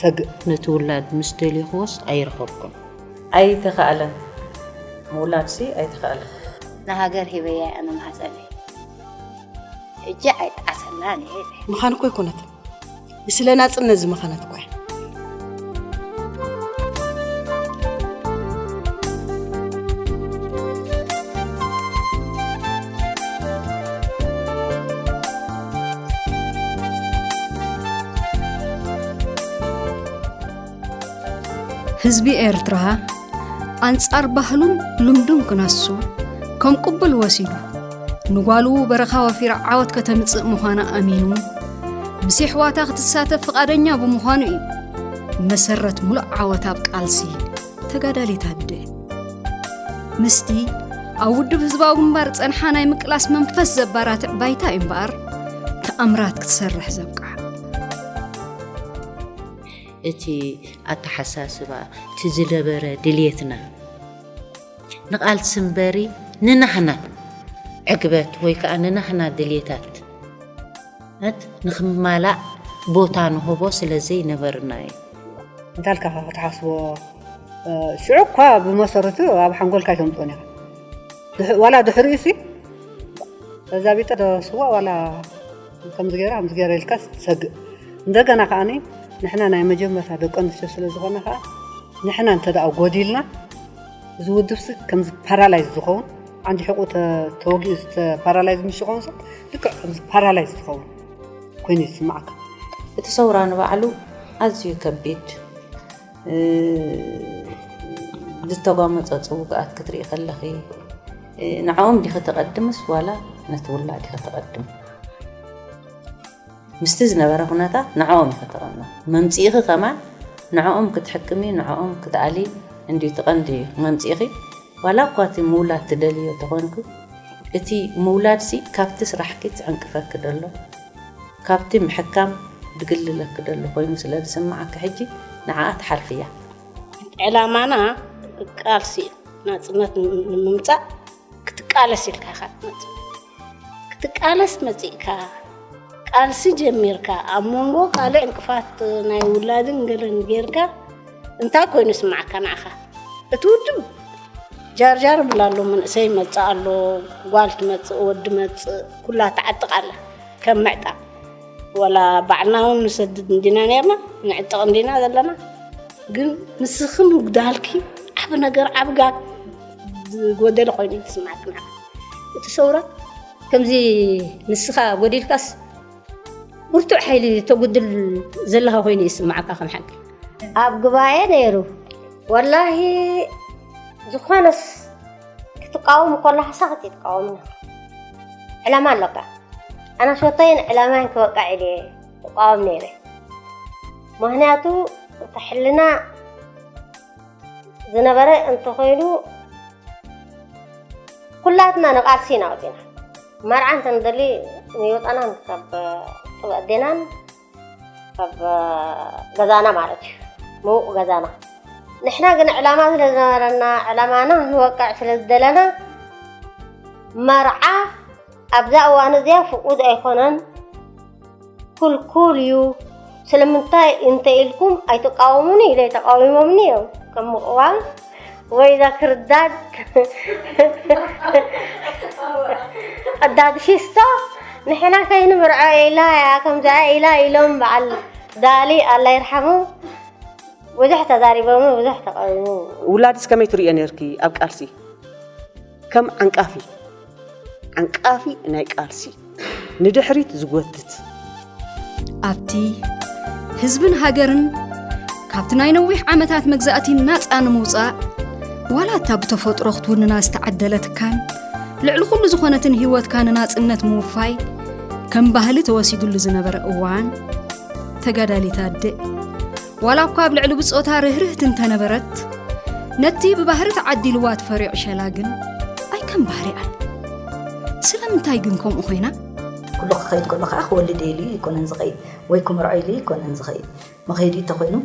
ሰግእ ነቲ ውላድ ምስ ደሌኽዎስ ኣይረኸብኩን። ኣይተኻእለን ምውላድሲ ኣይተኻእለን። ንሃገር ሂበያ እያ ንማህጸነይ ሕጂ ኣይጠዓሰላን እየ ኢለ። ምኻን እኮ ኣይኮነትን ንስለ ናጽነት ዝመኸነት እኮ እያ። ህዝቢ ኤርትራ ኣንጻር ባህሉን ልምዱን ክነሱ ከም ቅቡል ወሲዱ ንጓሉ በረኻ ወፊራ ዓወት ከተምጽእ ምዃና ኣሚኑ ምስ የሕዋታ ክትሳተፍ ፍቓደኛ ብምዃኑ እዩ መሰረት ሙሉእ ዓወት ኣብ ቃልሲ ተጋዳሊት ኣቢደ ምስቲ ኣብ ውድብ ህዝባዊ ግንባር ጸንሓ ናይ ምቅላስ መንፈስ ዘባራትዕ ባይታ እዩ እምበኣር ተኣምራት ክትሰርሕ ዘብቅዓ እቲ ኣተሓሳስባ እቲ ዝነበረ ድልየትና ንቓልሲ እምበሪ ንናህና ዕግበት ወይ ከዓ ንናህና ድልየታት ንክማላእ ቦታ ንህቦ ስለ ዘይነበርና እዩ እንታልካኻ ክትሓስቦ ሽዑ እኳ ብመሰረቱ ኣብ ሓንጎልካ ኣይተምፅኦን ኢኻ ዋላ ድሕሪ እሲ እዛ ቢጠ ስዋ ዋላ ከምዚ ገይራ ከምዚ ገይረ ኢልካ ትሰግእ እንደገና ከዓኒ ንሕና ናይ መጀመርታ ደቂ ኣንስትዮ ስለ ዝኾነ ከዓ ንሕና እንተ ደኣ ጎዲልና እዚ ውድብሲ ከምዚ ፓራላይዝ ዝኸውን ዓንዲ ሕቁ ተወጊኡ ፓራላይዝ ምስ ዝኸውን ልክዕ ከምዚ ፓራላይዝ ዝኸውን ኮይኑ ይስማዕካ። እቲ ሰውራ ንባዕሉ ኣዝዩ ከቢድ ዝተጓመፀፁ ውግኣት ክትርኢ ከለኺ ንዕኦም ዲኺ ተቐድምስ ዋላ ነቲ ውላድ ኢኺ ተቐድም? ምስቲ ዝነበረ ኩነታት ንዕኦም ኢኺ ተቐድሞ መምፅኢኺ ከማን ንዕኦም ክትሕክሚ ንዕኦም ክትኣሊ እንድዩ እቲ ቀንዲ መምፅኢኺ ዋላ እኳ እቲ ምውላድ ትደልይዮ ተኾንኪ እቲ ምውላድሲ ካብቲ ስራሕኪ ዝዕንቅፈኪ ዘሎ፣ ካብቲ ምሕካም ዝግልለኪ ዘሎ ኮይኑ ስለ ዝስምዓኪ ሕጂ ንዓኣ ትሓልፍያ። ዕላማና ቃልሲ እዩ። ናጽነት ንምምጻእ ክትቃለስ ኢልካ ኢኻ ትመጽእ። ክትቃለስ መጺእካ ቃልሲ ጀሚርካ ኣብ መንጎ ካልእ ዕንቅፋት ናይ ውላድን ገለን ጌርካ እንታይ ኮይኑ ይስምዓካ ንዓኻ እቲ ውድብ ጃርጃር እብላ ኣሎ መንእሰይ ይመጽእ ኣሎ ጓል ትመጽእ ወዲ መጽእ ኩላ ትዓጥቕ ኣላ ከም ምዕጣቕ ወላ ባዕልና እውን ንሰድድ እንዲና ነርና ንዕጥቕ እንዲና ዘለና ግን ንስኺ ምጉዳልኪ ዓብ ነገር ዓብ ጋግ ዝጎደለ ኮይኑ ትስማዕክና እቲ ሰውራ ከምዚ ንስኻ ጎዲልካስ ብርቱዕ ሓይሊ ተጉድል ዘለኻ ኮይኑ ይስማዓካ ከም ሓቂ ኣብ ጉባኤ ነይሩ ወላሂ ዝኾነስ ክትቃወም ከለካ ሳክት ይትቃወምና ዕላማ ኣለካ ኣነ ሸቶይን ዕላማይን ክበቃዕ ኢለ ትቃወም ነይረ ምክንያቱ እቲ ሕልና ዝነበረ እንተኾይኑ ኩላትና ንቓልሲ ኢና ወፂና መርዓ እንተንደሊ ንወፃናን ካብ ጥበ ኣዴናን ካብ ገዛና ማለት እዩ ምውቕ ገዛና ንሕና ግን ዕላማ ስለ ዝነበረና ዕላማና ንወቅዕ ስለ ዝደለና መርዓ ኣብዛ እዋን እዚኣ ፍቁድ ኣይኮነን ኩልኩል እዩ ስለምንታይ እንተ ኢልኩም ኣይትቃወሙኒ ኢለ ተቃዊሞምኒ እዮም ከም ምቕዋም ወይ እዛ ክርዳድ ቀዳድ ፊስቶ ንሕና ከይንምርዖ ኢላ እያ ከምዚኣ ኢላ ኢሎም በዓል ዳሊ ኣላ ይርሓሙ ብዙሕ ተዛሪቦም ብዙሕ ተቃዊሙ ውላድስ ከመይ ትርእዮ ነርኪ ኣብ ቃልሲ ከም ዓንቃፊ ዓንቃፊ ናይ ቃልሲ ንድሕሪት ዝጎትት ኣብቲ ህዝብን ሃገርን ካብቲ ናይ ነዊሕ ዓመታት መግዛእቲ ናፃ ንምውፃእ ዋላ እታ ብተፈጥሮ ክትውንና ዝተዓደለትካን ልዕሊ ኩሉ ዝኾነትን ህይወትካ ንናፅነት ምውፋይ ከም ባህሊ ተወሲድሉ ዝነበረ እዋን ተጋዳሊት ኣደ ዋላ እኳ ኣብ ልዕሊ ብጾታ ርህርህቲ እንተነበረት ነቲ ብባህሪ ተዓዲልዋ ትፈርዮ ዕሸላ ግን ኣይከም ባህሪኣን ስለምንታይ ግን ከምኡ ኮይና ኩሉ ክኸይድ ከሎ ከዓ ክወልድ ኢሉ ይኮነን ዝኸይድ ወይ ክምርዖ ኢሉ ይኮነን ዝኸይድ መኸይዱ እንተኮይኑ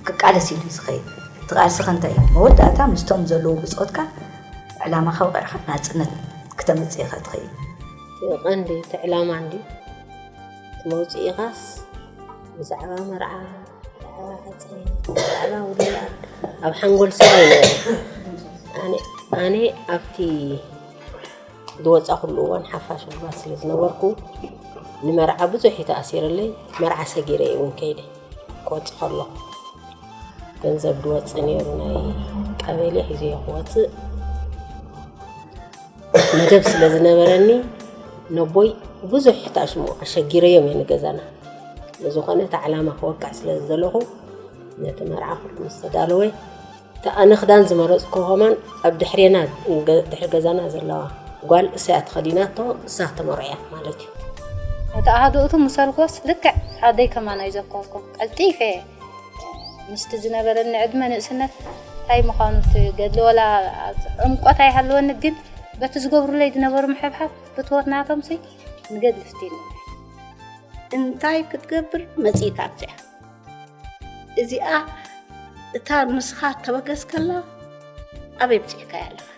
ክቃለስ ኢሉ ዝኸይድ እቲ ቃልሲ ከንታይ እዩ መወዳእታ ምስቶም ዘለዉ ብፆትካ ዕላማኻ ውቂዕኻ ናፅነት ክተምፅእ ኢኻ ትኸይድ ቀንዲ እቲ ዕላማ እንዲ መውጽኢኻስ ብዛዕባ መርዓ ብዛዕባ ሓጺን ብዛዕባ ውላድ ኣብ ሓንጎል ሰብ ኣይነበረን ኣነ ኣብቲ ዝወጻኹሉ እዋን ሓፋሽ ጉልባት ስለ ዝነበርኩ ንመርዓ ብዙሕ እዩ ተኣሲርለይ መርዓ ሰጊረ እየ እውን ከይደ ክወፅእ ከለኹ ገንዘብ ዝወፅእ ነይሩ ናይ ቀበሌ ሒዘዮ ክወፅእ መደብ ስለ ዝነበረኒ ነቦይ ብዙሕ ታሽሙ ኣሸጊረዮም እየ ንገዛና ብዝኾነ እቲ ዕላማ ክወቅዕ ስለ ዝደለኹ ነቲ መርዓ ኩሉ ምስ ተዳለወ እቲ ኣነ ክዳን ዝመረፅኩ ከማን ኣብ ድሕሬና ድሕሪ ገዛና ዘለዋ ጓል እሳያ ተኸዲናቶ እሳ ተመርዖ እያ ማለት እዩ እቲ ኣሃዱኡቱ ምስ ኣልጎስ ልክዕ ኣደይ ከማን ኣይዘከርኩ ቀልጢፈ ምስቲ ዝነበረኒ ዕድመ ንእስነት እንታይ ምዃኑ እቲ ገድሊ ወላ ዕምቆት ኣይሃለወኒ ግን በቲ ዝገብሩለይ ዝነበሩ ምሕብሓብ ፍትወት ናቶምሲ ንገድሊ ፍትኒ እንታይ ክትገብር መጺእካ ኣብዚኣ እዚኣ እታ ንስኻ ተበገስከላ ኣበይ ብጽሕካ ኣለኻ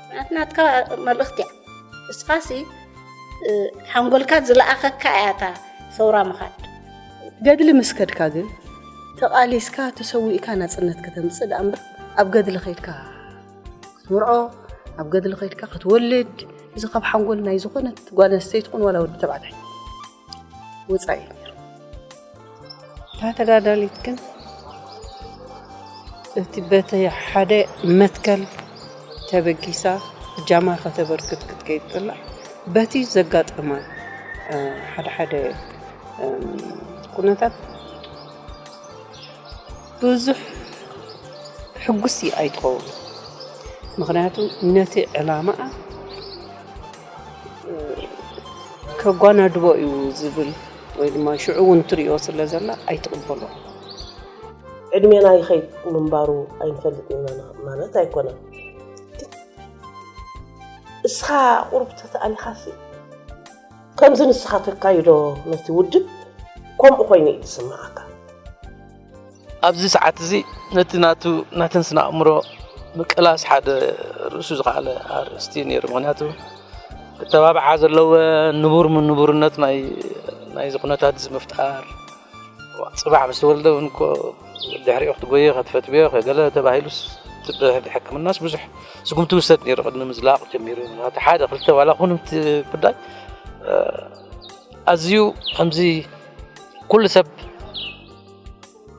ምክንያቱ ናትካ መልእኽቲ እያ እስኻሲ ሓንጎልካ ዝለኣኸካ እያ እታ ሰውራ ምኻድ ገድሊ ምስ ከድካ ግን ተቓሊስካ ተሰዊእካ ናጽነት ከተምጽእ ደኣ እምበር ኣብ ገድሊ ከይድካ ክትምርዖ ኣብ ገድሊ ከይድካ ክትወልድ እዚ ካብ ሓንጎል ናይ ዝኾነት ጓል ኣንስተይቲ ኹን ዋላ ወዲ ተባዕታይ ወፃኢ እታ ተጋዳሊት ግን እቲ በቲ ሓደ መትከል ተበጊሳ እጃማ ከተበርክት ክትከይድ ከላ በቲ ዘጋጠማ ሓደ ሓደ ኩነታት ብዙሕ ሕጉስ ኣይትኸውን ምክንያቱ ነቲ ዕላማኣ ከጓናድቦ እዩ ዝብል ወይ ድማ ሽዑ እውን ትሪኦ ስለ ዘላ ኣይትቕበሎ ዕድሜና ይኸይድ ምንባሩ ኣይንፈልጥ ኢና ማለት ኣይኮነን እስኻ ቁርብ ተተኣሊኻሲ ከምዚ ንስኻ ተካይዶ ነቲ ውድብ ከምኡ ኮይኑ እዩ ዝስምዓካ። ኣብዚ ሰዓት እዚ ነቲ ናቱ ናተን ስነ ኣእምሮ ምቅላስ ሓደ ርእሱ ዝኸኣለ ኣርእስቲ እዩ ነይሩ። ምክንያቱ ክተባብዓ ዘለዎ ንቡር ንቡርነት ናይ ናይዚ ኩነታት እዚ ምፍጣር ጽባሕ ምስ ተወልደ እውን እኮ ድሕሪኡ ክትጎዮ ከትፈትብዮ ከገለ ተባሂሉስ ትብህል ሕክምናስ ብዙሕ ስጉምቲ ውሰድ ነይሩ ቅድሚ ምዝላቕ ጀሚሩ እቲ ሓደ ክልተ ዋላ ኹን እቲ ጉዳይ ኣዝዩ ከምዚ ኩሉ ሰብ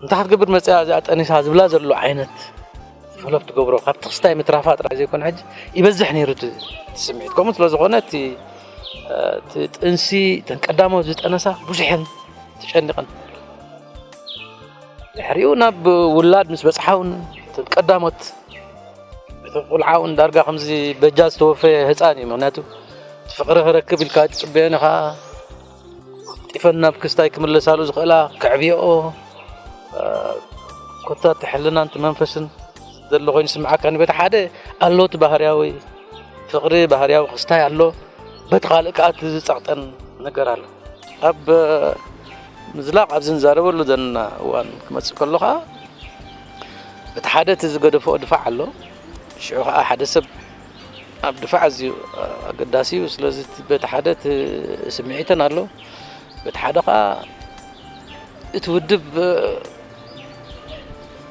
እንታይ ክትገብር መፅያ እዚኣ ጠኒሳ ዝብላ ዘሎ ዓይነት ፈለብ ትገብሮ ካብቲ ክስታይ ምትራፋ ጥራይ ዘይኮነ ሕጂ ይበዝሕ ነይሩ እቲ ስምዒት ከምኡ ስለ ዝኾነ እቲ ጥንሲ እተን ቀዳሞት ዝጠነሳ ብዙሕ እየን ተጨኒቐን ድሕሪኡ ናብ ውላድ ምስ በፅሓ እውን እተን ቀዳሞት እቲ ቁልዓ እውን ዳርጋ ከምዚ በጃ ዝተወፈየ ህፃን እዩ ምክንያቱ እቲ ፍቅሪ ክረክብ ኢልካ ትፅበዮን ኢኻ ጢፈን ናብ ክስታይ ክምለሳሉ ዝኽእላ ከዕብየኦ ኮታ እቲ ሕልናን እቲ መንፈስን ዘሎ ኮይኑ ስምዓካ ንበታ ሓደ ኣለዎቲ ባህርያዊ ፍቕሪ ባህርያዊ ክስታይ ኣሎ፣ በቲ ካልእ ከኣ እቲ ዝጸቕጠን ነገር ኣሎ። ኣብ ምዝላቕ ኣብዚ ንዛረበሉ ዘለና እዋን ክመጽእ ከሎ ከኣ እቲ ሓደ እቲ ዝገደፍኦ ድፋዕ ኣሎ፣ ሽዑ ከኣ ሓደ ሰብ ኣብ ድፋዕ ኣዝዩ ኣገዳሲ እዩ። ስለዚ በቲ ሓደ እቲ ስምዒተን ኣሎ፣ በቲ ሓደ ከኣ እቲ ውድብ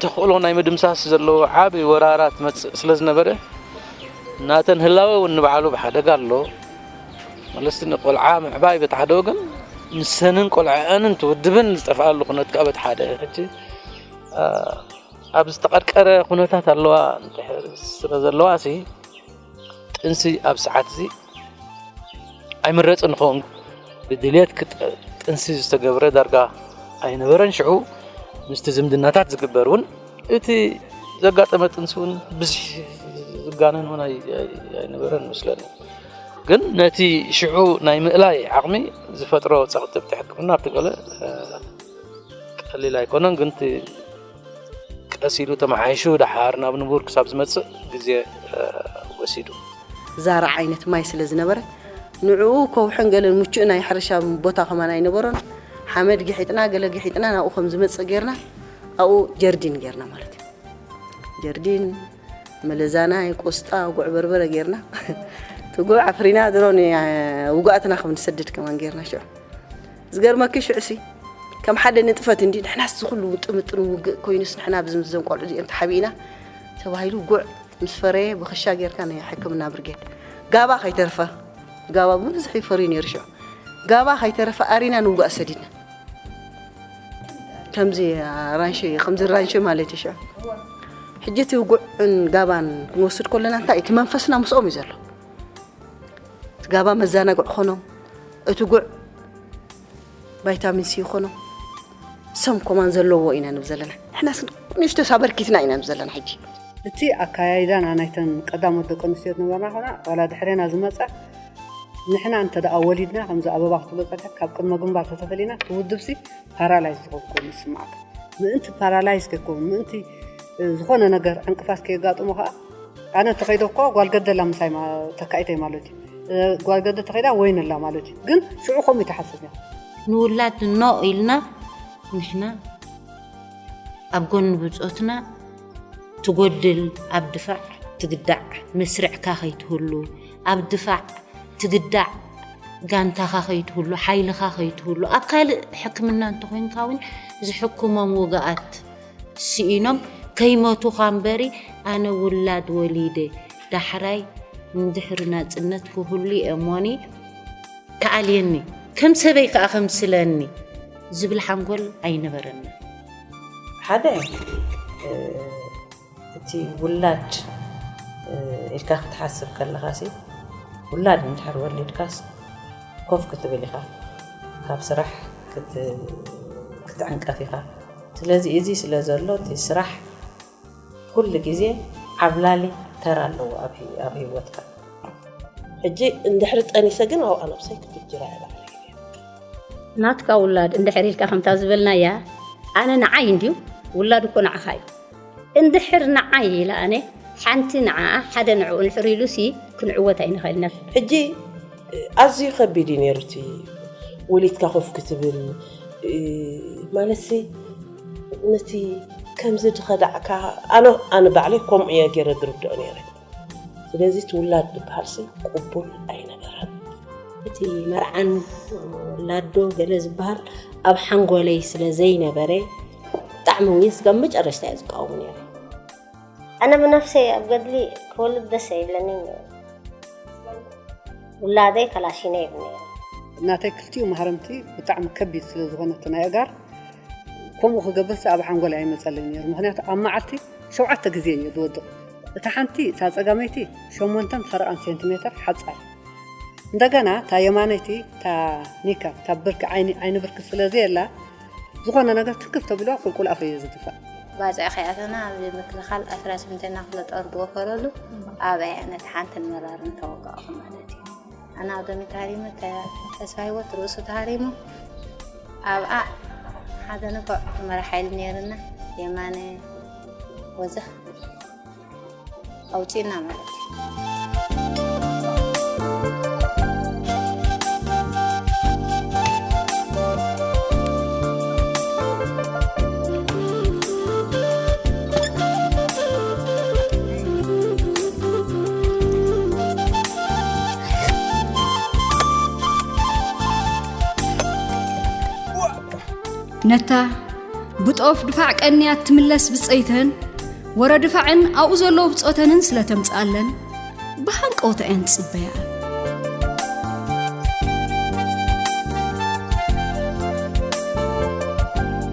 ተኽእሎ ናይ ምድምሳስ ዘለዎ ዓቢ ወራራት ትመጽእ ስለ ዝነበረ ናተን ህላወ እውን ንባዕሉ ብሓደጋ ኣሎ መለስቲ ንቆልዓ ምዕባይ በቲ ሓደ ወገን ንሰንን ቆልዐአንን ትውድብን ዝጠፍኣሉ ኩነት ከዓ በቲ ሓደ ሕጂ ኣብ ዝተቐርቀረ ኩነታት ኣለዋ ስለ ዘለዋ ሲ ጥንሲ ኣብ ሰዓት እዚ ኣይምረፅን ንኸውን ብድልት ጥንሲ ዝተገብረ ዳርጋ ኣይነበረን ሽዑ ምስቲ ዝምድናታት ዝግበር እውን እቲ ዘጋጠመ ጥንሲ እውን ብዙሕ ዝጋነን እውን ኣይነበረን መስለኒ ግን ነቲ ሽዑ ናይ ምእላይ ዓቕሚ ዝፈጥሮ ፀቕጢ ብቲ ሕክምና ኣብቲ ገለ ቀሊል ኣይኮነን ግን ቀስ ኢሉ ተመሓይሹ ደሓር ናብ ንቡር ክሳብ ዝመጽእ ግዜ ወሲዱ። ዛራ ዓይነት ማይ ስለ ዝነበረ ንዕኡ ከውሕን ገለን ምቹእ ናይ ሕርሻ ቦታ ከማን ኣይነበሮን። ሓመድ ግሒጥና ገለ ግሒጥና ናብኡ ከም ዝመጽእ ጌርና ኣብኡ ጀርዲን ጌርና ማለት እዩ። ጀርዲን መለዛናይ፣ ቆስጣ፣ ጉዕ በርበረ ጌርና እቲ ጉዕ ኣፍሪና ድሮ ውጉኣትና ከም ንሰድድ ከማን ጌርና ሽዑ ዝገርመኪ ሽዑሲ ከም ሓደ ንጥፈት እንዲ ንሕናስ ዝኹሉ ውጥምጥን ውግእ ኮይኑስ ንሕና ብዝም ዘም ቆልዑ እዚኦም ተሓቢእና ተባሂሉ ጉዕ ምስ ፈረየ ብክሻ ጌርካ ናይ ሕክምና ብርጌድ ጋባ ከይተርፈ ጋባ ብብዝሒ ይፈርዩ ነይሩ ሽዑ ጋባ ከይተረፈ ኣሪና ንውጋእ ሰዲድና ከምዚ ራንሸ ከምዚ ራንሸ ማለት እዩ ሽዑ ሕጂ እቲ ውጉዕን ጋባን ክንወስድ ከለና እንታይ እቲ መንፈስና ምስኦም እዩ ዘሎ ትጋባ መዛናግዕ ኾኖም እቲ ጉዕ ቫይታሚን ሲ ኾኖም ሰም ኮማን ዘለዎ ኢና ንብ ዘለና ንሕና ንእሽቶ ሳበርኪትና ኢና ንብ ዘለና ሕጂ እቲ ኣካያይዳና ናይተን ቀዳሞት ደቂ ኣንስትዮ ዝነበርና ኮና ዋላ ድሕሬና ዝመፀ ንሕና እንተ ደኣ ወሊድና ከምዚ ኣበባ ክትብሎ ፀኒሐ ካብ ቅድመ ግንባር ተተፈሊና እቲ ውድብሲ ፓራላይዝ ዝኸውን ኮይኑ ይስማዓካ ምእንቲ ፓራላይዝ ከይከውን ምእንቲ ዝኾነ ነገር ዕንቅፋት ከየጋጥሞ ከዓ ኣነ ተኸይደ እኳ ጓል ገደ ኣላ ምሳይ ተካኢተይ ማለት እዩ ጓል ገደ ተኸይዳ ወይን ኣላ ማለት እዩ ግን ሽዑ ከምኡ ተሓስብ እያ ንውላድ ኖ ኢልና ንሕና ኣብ ጎኒ ብፆትና ትጎድል ኣብ ድፋዕ ትግዳዕ መስርዕካ ከይትህሉ ኣብ ድፋዕ ትግዳዕ ጋንታኻ ከይትህሉ ሓይልኻ ከይትህሉ ኣብ ካልእ ሕክምና እንተኮይንካ እውን ዝሕክሞም ውግኣት ስኢኖም ከይመቱኻ እምበሪ ኣነ ውላድ ወሊደ ዳሕራይ ንድሕሪ ናጽነት ክህሉ እየ እሞኒ ክኣልየኒ ከም ሰበይ ከኣ ከምስለኒ ዝብል ሓንጎል ኣይነበረኒ ሓደ እቲ ውላድ ኢልካ ክትሓስብ ከለኻ ሲ ውላድ እንድሕር ወሊድካስ ኮፍ ክትብል ኢኻ ካብ ስራሕ ክትዕንቀፍ ኢኻ ስለዚ እዚ ስለ ዘሎ እቲ ስራሕ ኩሉ ግዜ ዓብላሊ ተራ ኣለዎ ኣብ ሂወትካ። ሕጂ እንድሕሪ ጠኒሰ ግን ኣብኣ ነብሰይ ክፍጅራ እየ ባዕለይ። ናትካ ውላድ እንድሕር ኢልካ ከምታ ዝበልናያ ኣነ ንዓይ እንድዩ ውላድ እኮ ንዓኻ እዩ እንድሕር ንዓይ ኢላ ኣነ ሓንቲ ንዓኣ ሓደ ንዕኡ እንድሕር ኢሉሲ ክንዕወት ኣይንኽእልንብ። ሕጂ ኣዝዩ ከቢድ እዩ ነይሩ እቲ ወሊድካ ኮፍ ክትብል ማለትሲ ነቲ ከምዚ ድኸዳዕካ ኣነ ኣነ ባዕለይ ከምኡ እየ ገይረ ድርድኦ ነይረ። ስለዚ እቲ ውላድ ዝበሃልሲ ቅቡል ኣይነበረን። እቲ መርዓን ውላዶ ገለ ዝበሃል ኣብ ሓንጎለይ ስለ ዘይነበረ ብጣዕሚ እውን ስጋብ መጨረሽታ እየ ዝቃወሙ ነይረ። ኣነ ብነፍሰይ ኣብ ገድሊ ክወልድ ደስ ኣይብለኒን ነይሩ። ውላደይ ከላሺነ ይብል ነይሩ። ናተይ ክልቲኡ ማህረምቲ ብጣዕሚ ከቢድ ስለ ዝኾነ እቲ ናይ ኣእጋር ከምኡ ክገብርሲ ኣብ ሓንጎለይ ኣይመፀለይን ነይሩ። ምኽንያቱ ኣብ መዓልቲ ሸውዓተ ግዜ እየ ዝወድቕ። እታ ሓንቲ እታ ጸጋመይቲ ሸሞንተን ፈረቓን ሴንቲሜተር ሓጻር እንደገና እታ የማነይቲ እታ ኒካ እታ ብርኪ ዓይኒ ዓይኒ ብርኪ ስለ ዘየላ ዝኾነ ነገር ትክፍ ተብሎ ቁልቁል ኣፉ እዩ ዝድፋእ ባጽዕ ከያተና ኣብ ምክልኻል ኣስራ ስምንተና ክፍለ ጦር ዝወፈረሉ ኣብያ ነቲ ሓንትን መራርን ተወጋእኹ ማለት እዩ ኣነ ኣብ ደሚ ተሃሪመ ተስፋ ሂወት ርእሱ ተሃሪሙ ኣብኣ ሓደ ንፉዕ መራሒ ኢሉ ነይርና የማነ ወዘ ኣውፂና ማለት እዩ ነታ ብጦፍ ድፋዕ ቀንያ እትምለስ ብፀይተን ወረ ድፋዕን ኣብኡ ዘለዉ ብፆተንን ስለ ተምፅኣለን ብሃንቀውታ እየን ትፅበያ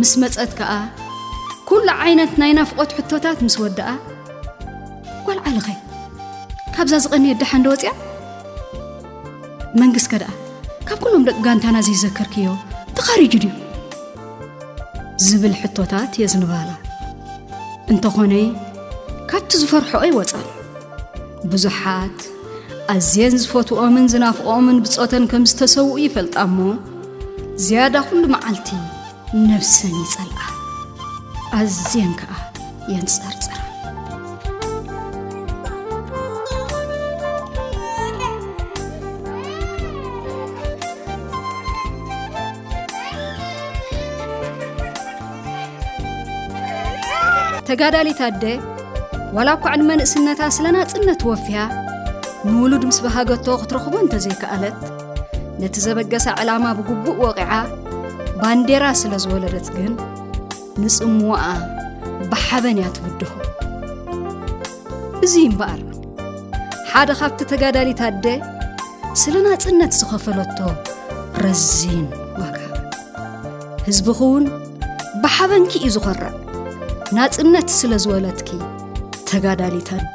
ምስ መጸት ከኣ ኩሉ ዓይነት ናይ ናፍቆት ሕቶታት ምስ ወደኣ ጓል ዓልኸ ካብዛ ዝቐንየ ደሓን ዶ ወጽያ መንግስከ ደኣ ካብ ኩሎም ደቂ ጋንታና ዘይዘከርክዮ ተኻሪጁ ድዩ ዝብል ሕቶታት የዝንባላ እንተኾነ ካብቲ ዝፈርሖኦ ይወጻል ብዙሓት ኣዝየን ዝፈትኦምን ዝናፍቖምን ብጾተን ከም ዝተሰውኡ ይፈልጣ እሞ ዝያዳ ኩሉ መዓልቲ ነፍሰን ይጸልኣ ኣዝየን ከኣ የንጸርጽራ ተጋዳሊት ኣደ ዋላ እኳ ዕድመ ንእስነታ ስለ ናጽነት ወፍያ ንውሉድ ምስ በሃገቶ ክትረኽቦ እንተዘይከኣለት ነቲ ዘበገሳ ዕላማ ብግቡእ ወቂዓ ባንዴራ ስለ ዝወለደት ግን ንጽምዋኣ ብሓበን እያ ትብድሆ እዙይ እምበኣር ሓደ ካብቲ ተጋዳሊት ኣደ ስለ ናጽነት ዝኸፈለቶ ረዚን ዋጋ ህዝብኺ እውን ብሓበንኪ እዩ ዝኾርዕ ናጽነት ስለ ዝወለትኪ ተጋዳሊት ኣደ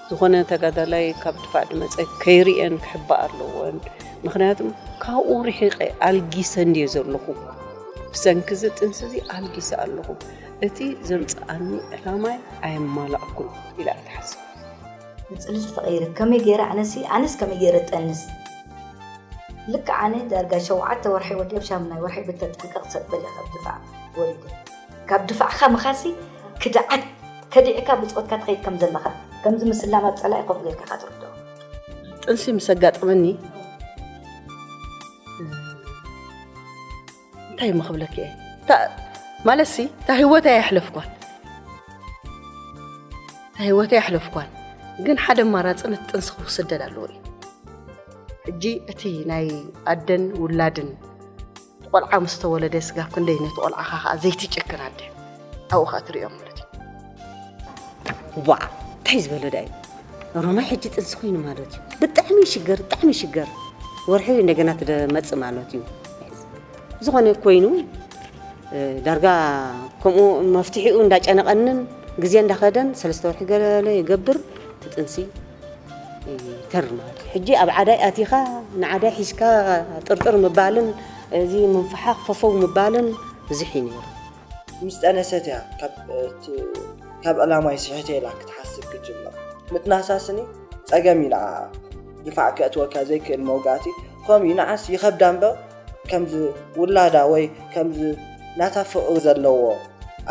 ዝኾነ ተጋዳላይ ካብ ድፋዕ ድመጸ ከይርእየን ክሕባእ ኣለዎን ምክንያቱም ካብኡ ርሒቐ ኣልጊሰ እንድየ ዘለኹ ብሰንኪ እዚ ጥንሲ እዚ ኣልጊሰ ኣለኹ እቲ ዘምጽኣኒ ዕላማይ ኣየማላእኩን ኢላ እያ ትሓስብ ንጽልልቲ ተቐይረ ከመይ ገይረ ኣነሲ ኣነስ ከመይ ገይረ ጠንስ ልክዕ ኣነ ዳርጋ ሸውዓተ ወርሒ ወዲ ኣብ ሻሙናይ ወርሒ ብተጠንቀቕ ሰጥ በለ ካብ ድፋዕ ወሪደ ካብ ድፋዕካ ምኻድሲ ክድዓት ከዲዕካ ብጾትካ ትኸይድ ከም ዘለኻ ከምዚ ምስላም ኣብ ጸላኢ ኮፍ ጌርካ ኢኻ ትርድኦ። ጥንሲ ምስ ኣጋጠመኒ እንታይ እሞ ክብለኪ እየ ማለትሲ እታ ህይወተይ ኣየሕለፍኳን እታ ህይወተይ ኣሕለፍኳን ግን ሓደ ኣማራፂ ነቲ ጥንሲ ክውስደድ ኣለዎ እዩ ሕጂ እቲ ናይ ኣደን ውላድን ቆልዓ ምስ ተወለደ ስጋብ ክንደይ ነቲ ቆልዓኻ ከዓ ዘይትጭክን ኣደ ኣብኡ ከዓ ትሪኦም ማለት እዩ ዋ እንታይ ዝበለ ዳ እዩ ሮማይ ሕጂ ጥንሲ ኮይኑ ማለት እዩ ብጣዕሚ ይሽገር ብጣዕሚ ይሽገር ወርሒ እንደገና ትመፅእ ማለት እዩ ዝኾነ ኮይኑ ዳርጋ ከምኡ መፍትሒኡ እንዳጨነቐንን ግዜ እንዳኸደን ሰለስተ ወርሒ ገለ ይገብር ትጥንሲ ይገርማል ሕጂ ኣብ ዓዳይ ኣቲኻ ንዓዳይ ሒዝካ ጥርጥር ምባልን እዚ ምንፍሓቕ ፈፈው ምባልን ብዝሕ እዩ ነይሩ። ምስ ጠነሰት እያ ካብ ዕላማይ ስሒተ ኢላ ክትሓስብ ክትጅምር። ምጥናሳ ስኒ ጸገም እዩ ንዓኣ። ድፋዕ ከእትወካ ዘይክእል መውጋእቲ ከምኡ እዩ ንዓስ ይኸብዳ እምበር ከምዚ ውላዳ ወይ ከምዚ ናታ ፍቕሪ ዘለዎ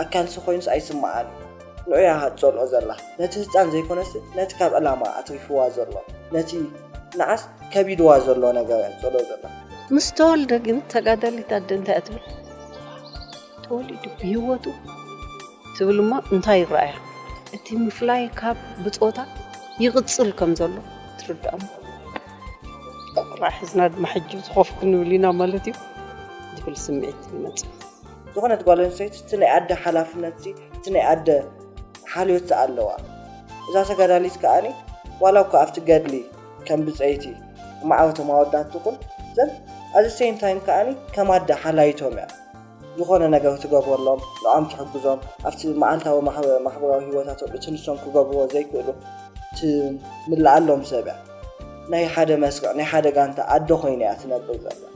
ኣካልሲ ኮይኑስ ኣይስምዓን እዩ። ንዑ እያ ትጸልኦ ዘላ ነቲ ህጻን ዘይኮነስ ነቲ ካብ ዕላማ ኣትሪፍዋ ዘሎ ነቲ ንዓስ ከቢድዋ ዘሎ ነገር እያ ትጸልኦ ዘላ። ምስ ተወልደ ግን ተጋዳሊት ኣደ እንታይ እያ ትብል? ተወሊዱ ብህይወቱ ትብል እሞ እንታይ ይረኣያ? እቲ ምፍላይ ካብ ብጾታ ይቕጽል ከም ዘሎ ትርዳእ እሞ ቆልዓ ሒዝና ድማ ሕጂ ኮፍ ክንብል ኢና ማለት እዩ ዝብል ስምዒት ይመጽእ። ዝኾነት ጓል ኣንስተይቲ እቲ ናይ ኣደ ሓላፍነትሲ እቲ ናይ ኣደ ሓልዮትሲ ኣለዋ። እዛ ተጋዳሊት ከኣኒ ዋላ እኳ ኣብቲ ገድሊ ከም ብጸይቲ ማዕበቶም ኣወዳት ትኹን ዘን ኣት ዘ ሰይም ታይም ከኣኒ ከም ኣደ ሓላይቶም እያ። ዝኾነ ነገር ትገብረሎም፣ ንዖም ትሕግዞም፣ ኣብቲ መዓልታዊ ማሕበራዊ ህይወታቶም እቲ ንሶም ክገብርዎ ዘይክእሉ ትምልኣሎም ሰብ እያ። ናይ ሓደ መስርዕ ናይ ሓደ ጋንታ ኣደ ኮይና እያ ትነብር ዘላ።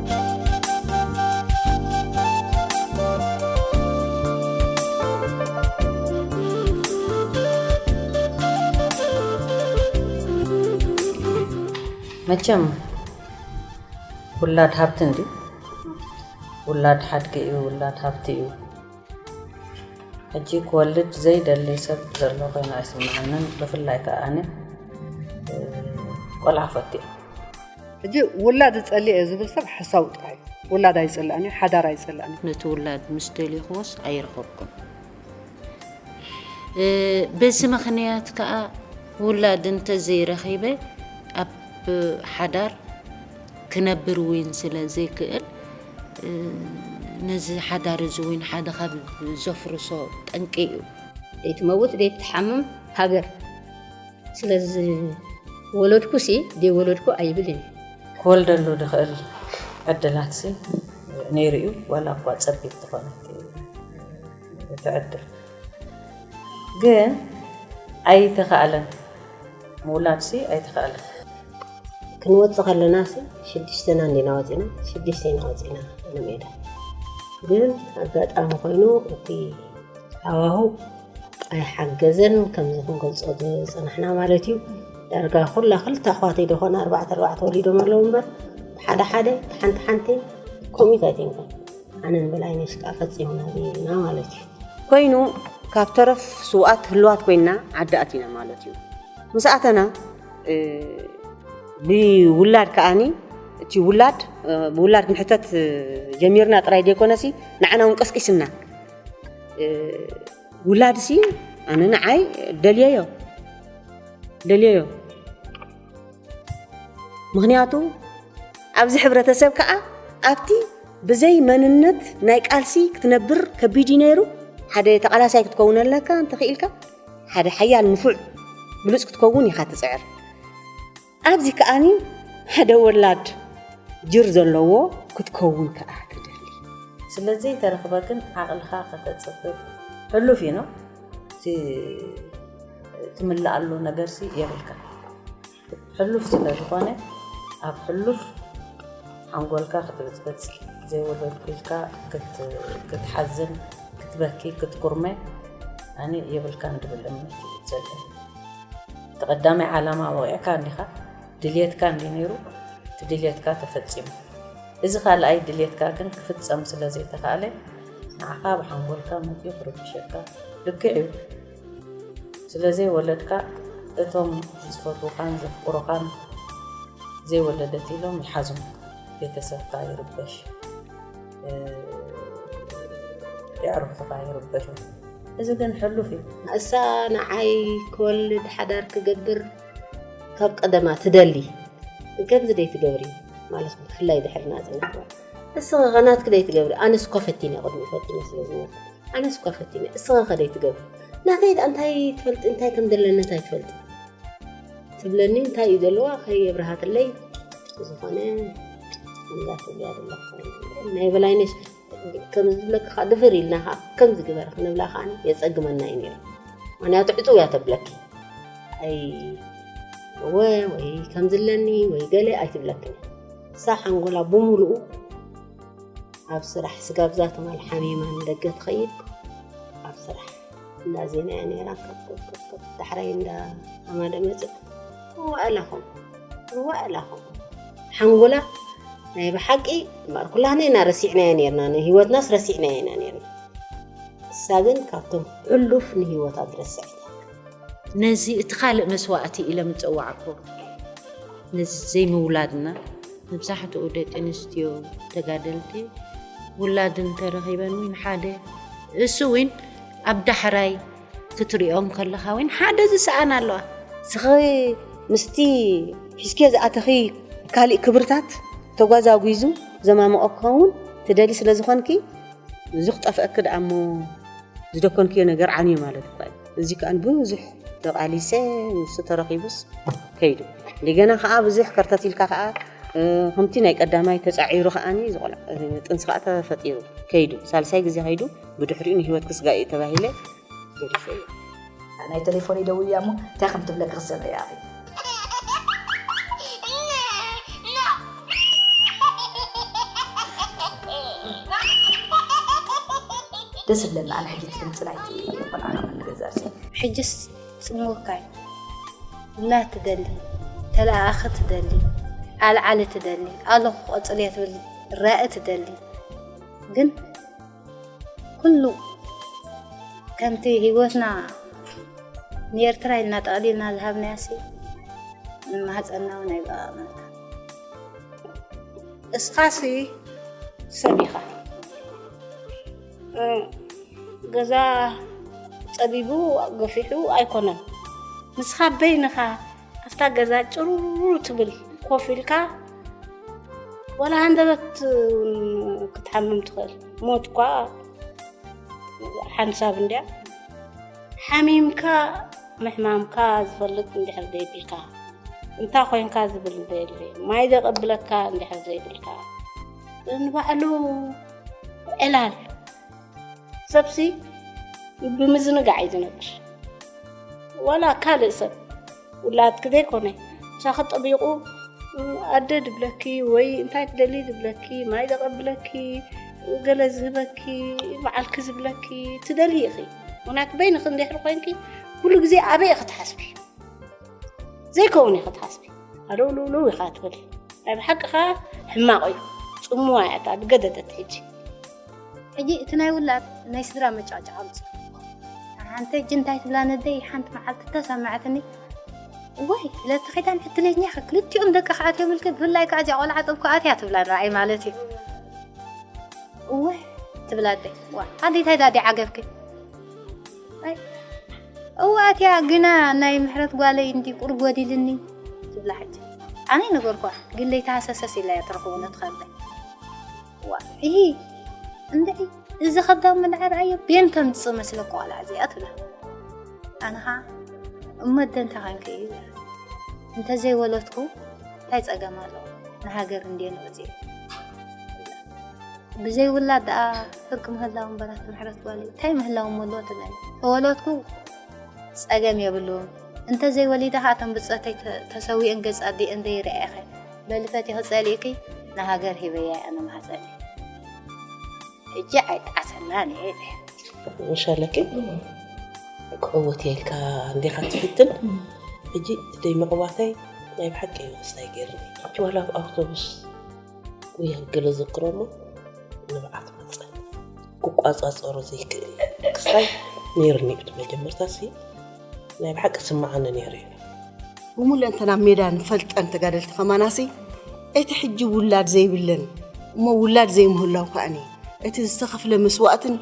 መቸም ውላድ ሃብቲ እንዲ ውላድ ሓድጊ እዩ ውላድ ሃብቲ እዩ ሕጂ ክወልድ ዘይደሊ ሰብ ዘሎ ኮይኑ ኣይስምዓንን ብፍላይ ከዓ ኣነ ቆልዓ ፈት እየ ሕጂ ውላድ ዝጸልእ እየ ዝብል ሰብ ሓሳዊ ጥራይ እዩ ውላድ ኣይጽላእን እዩ ሓዳር ኣይጽላእን እዩ ነቲ ውላድ ምስ ደልኹዎስ ኣይረኸብኩም በዚ ምክንያት ከዓ ውላድ እንተዘይረኺበ ኣብ ሓዳር ክነብር እውን ስለ ዘይክእል ነዚ ሓዳር እዚ እውን ሓደ ካብ ዘፍርሶ ጠንቂ እዩ። ዘይትመውት ዘይትሓምም ሃገር ስለዝወለድኩሲ ዘይወለድኩ ኣይብልን እየ። ክወልደሉ ዝኽእል ዕድላትሲ ነይሩ እዩ፣ ዋላ እኳ ፀቢብ ተኾነት እቲ ዕድል ግን ኣይተኻእለን፣ ምውላድሲ ኣይተኻእለን። ክንወፅእ ከለናሲ ሽዱሽተና እንዲና ወፂእና፣ ሽዱሽተ ኢና ወፂእና ንሜዳ ግን ኣጋጣሚ ኮይኑ እቲ ሃዋህው ኣይሓገዘን ከምዚ ክንገልፆ ዝፀናሕና ማለት እዩ ዳርጋ ኩላ ክልተ ኣሕዋተይ ዶ ኮነ ኣርባዕተ ኣርባዕተ ወሊዶም ኣለዉ እምበር ብሓደ ሓደ ሓንቲ ሓንቲ ከምኡት ኣይኮንኩን ኣነ ንበላይነሽ ከዓ ፈፂምና ኢና ማለት እዩ ኮይኑ ካብ ተረፍ ስውኣት ህልዋት ኮይና ዓዲ ኣቲና ማለት እዩ ምስ ኣተና ብውላድ ከዓኒ እቲ ውላድ ብውላድ ክንሕተት ጀሚርና ጥራይ ዘይኮነሲ ንዓና እውን ቀስቂስና ውላድ ሲ ኣነ ንዓይ ደልየዮ ደልየዮ ምክንያቱ ኣብዚ ሕብረተሰብ ከዓ ኣብቲ ብዘይ መንነት ናይ ቃልሲ ክትነብር ከቢድ እዩ ነይሩ ሓደ ተቃላሳይ ክትከውን ኣለካ እንተኽኢልካ ሓደ ሓያል ንፉዕ ብሉፅ ክትከውን ኢኻ ትፅዕር ኣብዚ ከኣ ሓደ ወላድ ጅር ዘለዎ ክትከውን ከኣ ትደሊ። ስለ ዘይተረኽበ ግን ዓቕልኻ ከተጽብብ ሕሉፍ እዩ ነው። እቲ ትምልኣሉ ነገርሲ የብልካን። ሕሉፍ ስለ ዝኾነ ኣብ ሕሉፍ ሓንጎልካ ክትብጽብጽ፣ ዘይወለድኩ ኢልካ ክትሓዝን፣ ክትበኪ፣ ክትኩርመ ኣነ የብልካን ዝብል እምነት እዩ ዘለኒ። እቲ ቀዳማይ ዓላማ ወቒዕካ እንዲኻ፣ ድልየትካ እንድዩ ነይሩ፣ እቲ ድልየትካ ተፈጺሙ። እዚ ካልኣይ ድልየትካ ግን ክፍጸም ስለ ዘይተኻእለ፣ ንዓኻ ኣብ ሓንጎልካ መጺኡ ክርብሸካ ልክዕ እዩ። ስለ ዘይወለድካ እቶም ዝፈትዉኻን ዘፍቅሩኻን ዘይወለደት ኢሎም ይሓዙ፣ ቤተሰብካ ይርበሽ። የዕሩኽትኻ ይርበሹ እዚ ግን ሕሉፍ እዩ እሳ ንዓይ ክወልድ ሓዳር ክገብር ካብ ቀደማ ትደሊ ከምዚ ደይ ትገብሪ ማለት ብፍላይ ድሕሪ ናፅነት እስኸ ኸናትክ ደይ ትገብሪ ኣነስ እኳ ፈቲነ ቅድሚ ፈቲነ ስለ ዝነበርኩ ኣነስ እኳ ፈቲነ እስኸ ኸ ደይ ትገብሪ ናተይ ድኣ እንታይ ትፈልጢ እንታይ ከም ዘለና እንታይ ትፈልጢ ትብለኒ እንታይ እዩ ዘለዋ ከየብርሃትለይ ዝኾነ ናይ በላይነሽ ከምዚ ዝብለኪ ከዓ ድፍር ኢልና ከዓ ከምዚ ግበሪ ክንብላ ከዓ የፀግመና እዩ ነይሩ ምክንያቱ ዕፅው እያ ተብለኪ ኣይ እወ ወይ ከምዚ ኣለኒ ወይ ገለ ኣይትብለክን እሳ ሓንጎላ ብምሉኡ ኣብ ስራሕ ስጋብ ዛተማል ሓሚማ ንደገ ትኸይድ ኣብ ስራሕ እንዳ ዜና እያ ነይራ ከፍከፍከፍ ዳሕራይ እንዳ ሃማደ መፅእ ዋእላኹም ዋእላኹም ሓንጎላ ናይ ብሓቂ እምበኣር ኩላህና ኢና ረሲዕናዮ ነርና ንሂወትናስ ረሲዕናዮ ኢና ነርና እሳ ግን ካብቶም ሕሉፍ ንሂወታ ዝረስዐት ነዚ እቲ ካልእ መስዋእቲ ኢሎም ዝጸዋዕኩ ነዚ ዘይምውላድና መብዛሕትኡ ደቂ ኣንስትዮ ተጋደልቲ ውላድ እንተረኺበን እውን ሓደ እሱ እውን ኣብ ዳሕራይ ክትሪኦም ከለኻ እውን ሓደ ዝሰኣን ኣለዋ ስኸ ምስቲ ሒዝኪዮ ዝኣተኺ ካልእ ክብርታት ተጓዛጒዙ ዘማምቆ ክኸውን ትደሊ ስለ ዝኾንኪ እዚ ክጠፍአኪ ደኣ እሞ ዝደኮንኪዮ ነገር ዓንዩ ማለት እኳ እዩ እዚ ከኣ ብዙሕ ተቓሊሰ ንሱ ተረኺቡስ ከይዱ እንደገና ከኣ ብዙሕ ከርተት ኢልካ ከኣ ከምቲ ናይ ቀዳማይ ተፃዒሩ ከዓኒ ጥንሲ ከዓ ተፈጢሩ ከይዱ ሳልሳይ ግዜ ከይዱ ብድሕሪኡ ንሂወት ክስጋ እዩ ተባሂለ ገዲፈ እዩ ናይ ቴሌፎን ይደውል እያ እሞ እንታይ ከም ትብለኪ ክሰምዐ እያ ደስ እብለኒ ኣነ ሕጂ እቲ ድምፂ ናይቲ ቆልዓ ካብ እንገዝኣ ሲ ሕጅስ ጽምውካይ እና ትደሊ ተለኣኣኺ ትደሊ ኣልዓሊ ትደሊ ኣለኹ ቆጽልየ ትብል ራኢ ትደሊ ግን ኩሉ ከምቲ ህይወትና ንኤርትራ ኢልና ጠቕሊልና ዝሃብናያሲ ንማህፀና እውን ኣይበቓቕናታ እስኻሲ ሰብ ኢኻ ገዛ ፀቢቡ ገፊሑ ኣይኮነን ንስኻ በይንኻ ኣብታ ገዛ ጭሩሩ ትብል ኮፍ ኢልካ ዋላ ሃንደበት ክትሓምም ትኽእል ሞት እኳ ሓንሳብ እንድያ ሓሚምካ ምሕማምካ ዝፈልጥ እንድሕር ዘይብልካ እንታ ኮንካ ዝብል ዘይብለ ማይ ዘቐብለካ እንድሕር ዘይብልካ ንባዕሉ ዕላል ሰብሲ ብምዝንጋዕ እዩ ዝነብር ዋላ ካልእ ሰብ ውላድኪ ዘይኮነ ምሳኺ ጠቢቑ ኣደ ድብለኪ ወይ እንታይ ትደልዪ ድብለኪ ማይ ደቐብለኪ ገለ ዝህበኪ በዓልኪ ዝብለኪ ትደልዪ ኢኺ ምክንያቱ በይንኺ እንድሕር ኮይንኪ ኩሉ ግዜ ኣበይ ኢኺ ትሓስቢ ዘይከውን ኢኺ ትሓስቢ ኣልውልውልው ኢኻ ትበሊ ናይ ብሓቂ ከዓ ሕማቕ እዩ ፅምዋ እያ እታ ገደደት ሕጂ ሕጂ እቲ ናይ ውላድ ናይ ስድራ መጫዕጫዕ ኣምፅኡ ሓንቲ ሕጂ እንታይ ትብላ ነደይ ሓንቲ መዓልቲ ተሰማዕትኒ ወይ ለቲ ኪዳን ዕድለኛ ኢኻ ክልቲኦም ደቂ ክኣትዮም ኢልከ ብፍላይ ከዓ እዚኣ ቆልዓ ጥብ ክኣትያ ትብላ ንረኣይ ማለት እዩ እወ ትብላ ኣደ ኣደ እንታይ ዳዲ ዓገብኪ እወ ኣትያ ግና ናይ ምሕረት ጓለይ እንዲ ቁር ጎዲልኒ ትብላ ሕጂ ኣነ ነገርኳ ግን ለይተሃሰሰስ ኢላ እያ ትረኽቦ ነትኸለ ዋዒ እንድዒ እዚ ከብዳም ምንዐ ረኣዮ ቤን ከምፅእ መስለ ቆልዓ እዚኣ ትብላ ኣነ ከዓ እሞ ኣደ እንታይ ኮንኪ እዩ እንተዘይወለድኩ እንታይ ፀገም ኣሎ ንሃገር እንድየ ንወፅ ብዘይ ውላድ ደኣ ፍርቂ ምህላው እምበራት ምሕረት ጓል እንታይ ምህላው መሎ ትለኒ ተወለድኩ ፀገም የብሉን እንተዘይወሊዳ ከዓ እተን ብፀተይ ተሰዊአን ገፅ ኣዲአን ዘይርኣኸ በሊ ፈቲኺ ጸሊእኪ ንሃገር ሂበያ እያ መማህጸኒ ሕጂ ኣይጠዓሰላን እየ ኢለ ሸለኪ ክዕወት እየ ኢልካ እንዲኻ ትፍትን ሕጂ ደይ ምዕዋተይ ናይ ብሓቂ ንክስታይ ገይርኒ ሕጂ ዋላ ኣብ ኣውቶቡስ ወይ ገለ ዘክሮ እሞ ንብዓት መፀ ክቋፃፀሮ ዘይክእል ክስታይ ነይርኒ እቲ መጀመርታ ሲ ናይ ብሓቂ ስማዓኒ ነይሩ እዩ ብሙለንተና ሜዳ ንፈልጠን ተጋደልቲ ከማናሲ እቲ ሕጂ ውላድ ዘይብለን እሞ ውላድ ዘይምህላው ከኣኒ እቲ ዝተኸፍለ መስዋእትን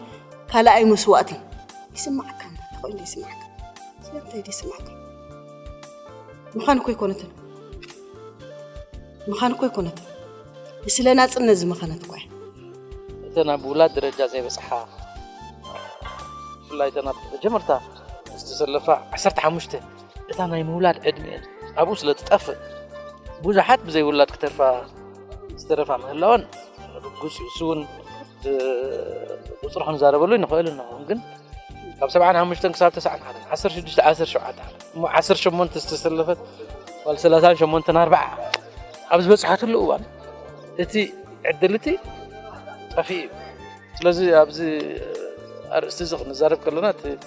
ካልኣይ መስዋእትን ይስማዓካ ተኾይኑ ይስማዓካ ስለምንታይ ይስማዓካ ምዃን እኮ ኣይኮነትን ምዃን እኮ ኣይኮነትን ንስለ ናፅነት ዝመኸነት እኳ እተን ኣብ ውላድ ደረጃ ዘይበፅሓ ብፍላይ እተን ኣብ መጀመርታ ምስቲ ዘለፋ ዓሰርተ ሓሙሽተ እታ ናይ ምውላድ ዕድሚኤን ኣብኡ ስለ ትጠፍእ ብዙሓት ብዘይ ውላድ ክተርፋ ዝተረፋ ምህላወን ርጉፅ እዩ እሱ እውን ብቁፅሪ ክንዛረበሉ ንኽእል እንኹ ግን ካብ ሰብዓን ሓሙሽተን ክሳብ ተስዓን ሓደን ዓሰርተ ሽዱሽተ ዓሰርተ ሸውዓተ እሞ ዓሰርተ ሸሞንተ ዝተሰለፈት ጓል ሰላሳን ሸሞንተን ኣርባዓ ኣብ ዝበፅሓትሉ እዋን እቲ ዕድል እቲ ጠፊኡ እዩ ስለዚ ኣብዚ ኣርእስቲ እዚ ክንዛረብ ከለና እቲ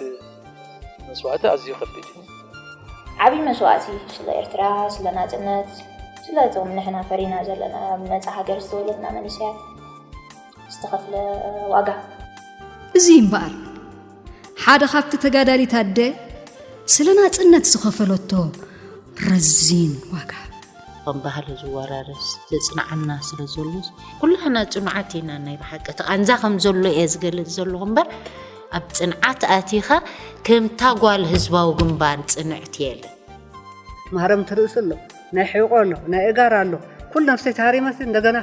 መስዋእቲ ኣዝዩ ከቢድ እዩ። ዓብይ መስዋእቲ ስለ ኤርትራ፣ ስለ ናጽነት፣ ስለ እቶም ንሕና ፈሪና ዘለና ኣብ ነጻ ሃገር ዝተወለድና መንእሰያት ዝተኸፍለ ዋጋ እዚ እምበኣር ሓደ ካብቲ ተጋዳሊት ኣደ ስለ ናጽነት ዝኸፈለቶ ረዚን ዋጋ ከም ባህሊ ዝወራረስ ዘጽንዓና ስለ ዘሎስ ኩላህና ጽኑዓት ኢና ናይ ብሓቂ እቲ ቃንዛ ከም ዘሎ እየ ዝገልጽ ዘለኹ እምበር ኣብ ጽንዓት ኣቲኻ ከምታ ጓል ህዝባዊ ግንባር ጽንዕት የለ ማረምቲ ርእሲ ኣሎ ናይ ሕቆ ኣሎ ናይ እጋር ኣሎ ኩሉ ነፍሰይ ተሃሪመሲ እንደገና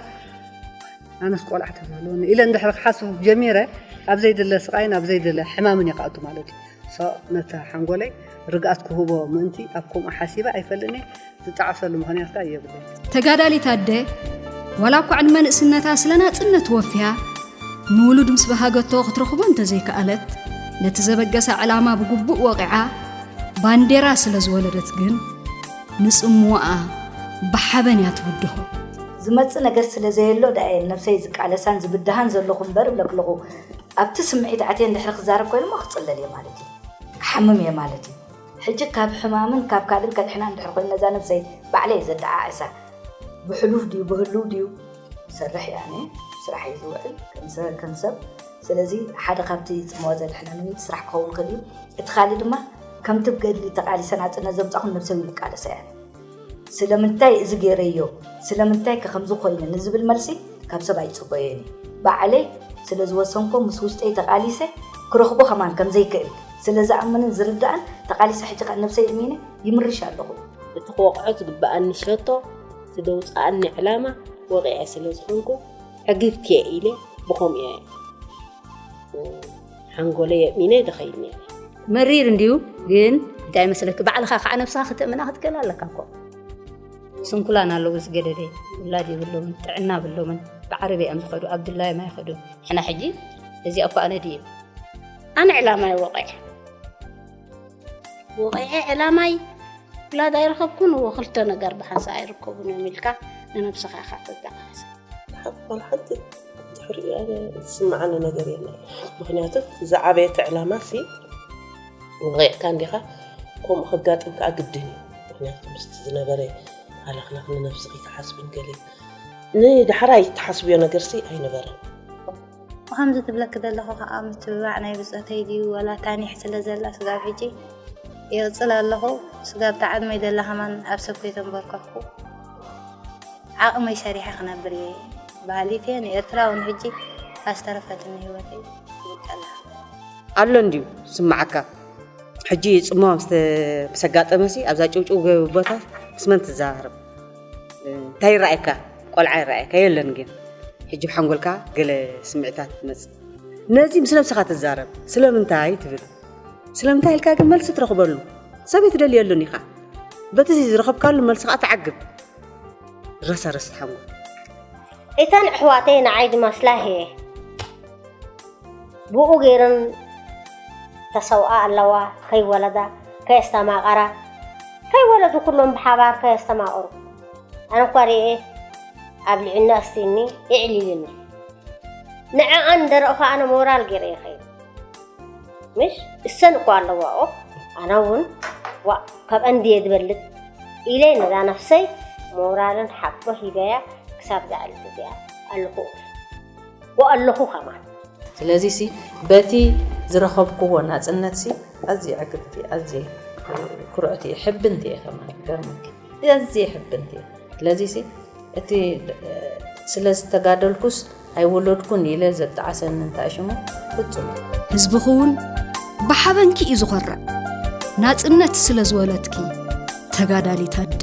ኣነስ ቆልዓ ተዝህልወኒ ኢለ እንድሕር ክሓስብ ጀሚረ ኣብ ዘይድለ ስቃይን ኣብ ዘይድለ ሕማምን ይክኣቱ ማለት እዩ ሳኦል ነቲ ሓንጎለይ ርግኣት ክህቦ ምእንቲ ኣብ ከምኡ ሓሲበ ኣይፈልጥን'የ፣ ዝጣዕሰሉ ምኽንያት ከኣ የብለይን። ተጋዳሊት ኣደ ዋላ እኳ ዕድመ ንእስነታ ስለ ናጽነት ወፍያ ንውሉድ ምስ በሃገቶ ክትረኽቦ እንተዘይከኣለት ነቲ ዘበገሳ ዕላማ ብግቡእ ወቒዓ ባንዴራ ስለ ዝወለደት ግን ንጽምዋኣ ብሓበን እያ ትብድሆ። ዝመጽእ ነገር ስለ ዘየሎ ደኣ'የ ንነብሰይ ዝቃለሳን ዝብድሃን ዘለኹ እምበር እብለክለኹ። ኣብቲ ስምዒት ኣትየ እንድሕሪ ክዛረብ ኮይነ እሞ ክጽለል እየ ማለት እዩ። ክሓምም እየ ማለት እዩ። ሕጂ ካብ ሕማምን ካብ ካልእን ከድሕና እንድሕሪ ኮይኑ ነዛ ነብሰይ ባዕለይ እየ ዘደዓዕሳ። ብሕሉፍ ድዩ ብህሉው ድዩ ዝሰርሕ እየ ኣነ። ስራሕ እዩ ዝውዕል ከም ሰብ። ስለዚ ሓደ ካብቲ ጽምዋ ዘድሕነኒ ምንጪ ስራሕ ክኸውን ይኽእል እዩ። እቲ ካልእ ድማ ከምቲ ብገድሊ ተቓሊሰ ናጽነት ዘምጻኹን ነብሰይ እውን እቃለሳ እየ ኣነ። ስለምንታይ እዚ ገይረዮ፣ ስለምንታይከ ከምዚ ኰይነ ንዝብል መልሲ ካብ ሰብ ኣይጽበዮን እየ። ባዕለይ ስለ ዝወሰንኩዎን ምስ ውሽጠይ ተቓሊሰ ክረኽቦ ከማን ከም ዘይክእል ስለ ዝኣምንን ዝርዳእን ተቓሊሰ ሕጂ ከኣ ነብሰይ እሚነ ይምርሽ ኣለኹ። እቲ ክወቕዖ ዝግበኣኒ ሸቶ፣ እቲ ዘውጽኣኒ ዕላማ ወቒዐ ስለ ዝኾንኩ ዕግብት'የ ኢለ ብኸምኡ እየ። ሓንጎለይ የእሚነ ድኸይድ ነይረ። መሪር እንድዩ ግን እንታይ መስለኪ ባዕልኻ ከዓ ነብስኻ ክተእምና ክትክእል ኣለካ እኮ ስንኩላን ኣለዉ ዝገደደ ውላድ የብሎምን ጥዕና ብሎምን ብዓረብ እዮም ዝኸዱ ኣብ ድላይ ማይ ይኸዱ ሕና ሕጂ እዚኣ እኳ ኣነ ድዩ ኣነ ዕላማ ይወቀዕ ወቂዐ ዕላማይ ውላድ ኣይረኸብኩን እዎ ክልተ ነገር ብሓንሳ ኣይርከቡን እዮም ኢልካ ንነብስኻ ኢኻ ተጠቃስ ሓቅን ሓቂ ድሕሪ ዝስምዓኒ ነገር የለን ምክንያቱ ዝዓበየት ዕላማ ሲ ወቂዕካ እንዲኻ ከምኡ ከጋጥም ከዓ ግድን እዩ ምክንያቱ ምስቲ ዝነበረ ሃለኽላኽ ንነብስኺ ክሓስብን ገለ ንዳሕራ ይተሓስብዮ ነገርሲ ኣይነበረን ከምዚ ትብለኪ ዘለኹ ከዓ ምትብባዕ ናይ ብፀተይ ድዩ ወላ ታኒሕ ስለ ዘላ ስጋብ ሕጂ የቕፅል ኣለኹ ስጋብ ተዓድመይ ዘላ ከማን ኣብ ሰብ ከይተንበርከኽኩ ዓቕመይ ሰሪሐ ክነብር እየ በሃሊት እየ ንኤርትራ እውን ሕጂ ኣስተረፈትኒ ህይወተይ ትብል ከላ ኣሎ እንድዩ ስማዓካ ሕጂ ፅምዋ ምስ ኣጋጠመሲ ኣብዛ ጭውጭው ቦታ ምስ መን ትዘራረብ እንታይ ይረኣየካ ቆልዓ ይረኣየካ የለን ግን ሕጂ ብሓንጎልካ ገለ ስምዒታት ትመጽእ ነዚ ምስ ነብስኻ ትዛረብ ስለምንታይ ትብል ስለምንታይ ኢልካ ግን መልሲ ትረኽበሉ ሰብ ኣይትደልየሉን ኢኻ በቲ ዝረኸብካሉ መልሲ ከዓ ትዓግብ ረሰረስ ሓንጎል እተን ኣሕዋተይ ንዓይ ዝመስላ እየ ብኡ ገይረን ተሰውኣ ኣለዋ ከይወለዳ ከየስተማቐራ ከይወለዱ ኩሎም ብሓባር ከየስተማቐሩ ኣነ እኳ ርኤ ኣብ ልዕና ኣስትኒ የዕሊልኒ ንዕኣን ደረእኹ ኣነ ሞራል ገይረ ይኸይድ ምሽ እሰን እኮ ኣለዋ ኦ ኣነ እውን ዋ ካብኣን ድየ ዝበልፅ ኢለ ነዛ ነፍሰይ ሞራልን ሓቦ ሂበያ ክሳብ ዝዓልት እዚኣ ኣለኹ ወኣለኹ ከማን ስለዚ ሲ በቲ ዝረኸብክዎ ናፅነት ሲ ኣዝየ ዕግብቲ ኣዝየ ኩርዕቲ እየ ሕብንቲ እየ ከማን ይገርመኪ ኣዝየ ይሕብን እየ ስለዚሲ እቲ ስለ ዝተጋደልኩስ ኣይወለድኩን ኢለ ዘጣዓሰኒ እንታይ ሽሙ ፍጹም ህዝብኺ እውን ብሓበንኪ እዩ ዝኾርዕ ናፅነት ስለ ዝወለትኪ ተጋዳሊት ኣደ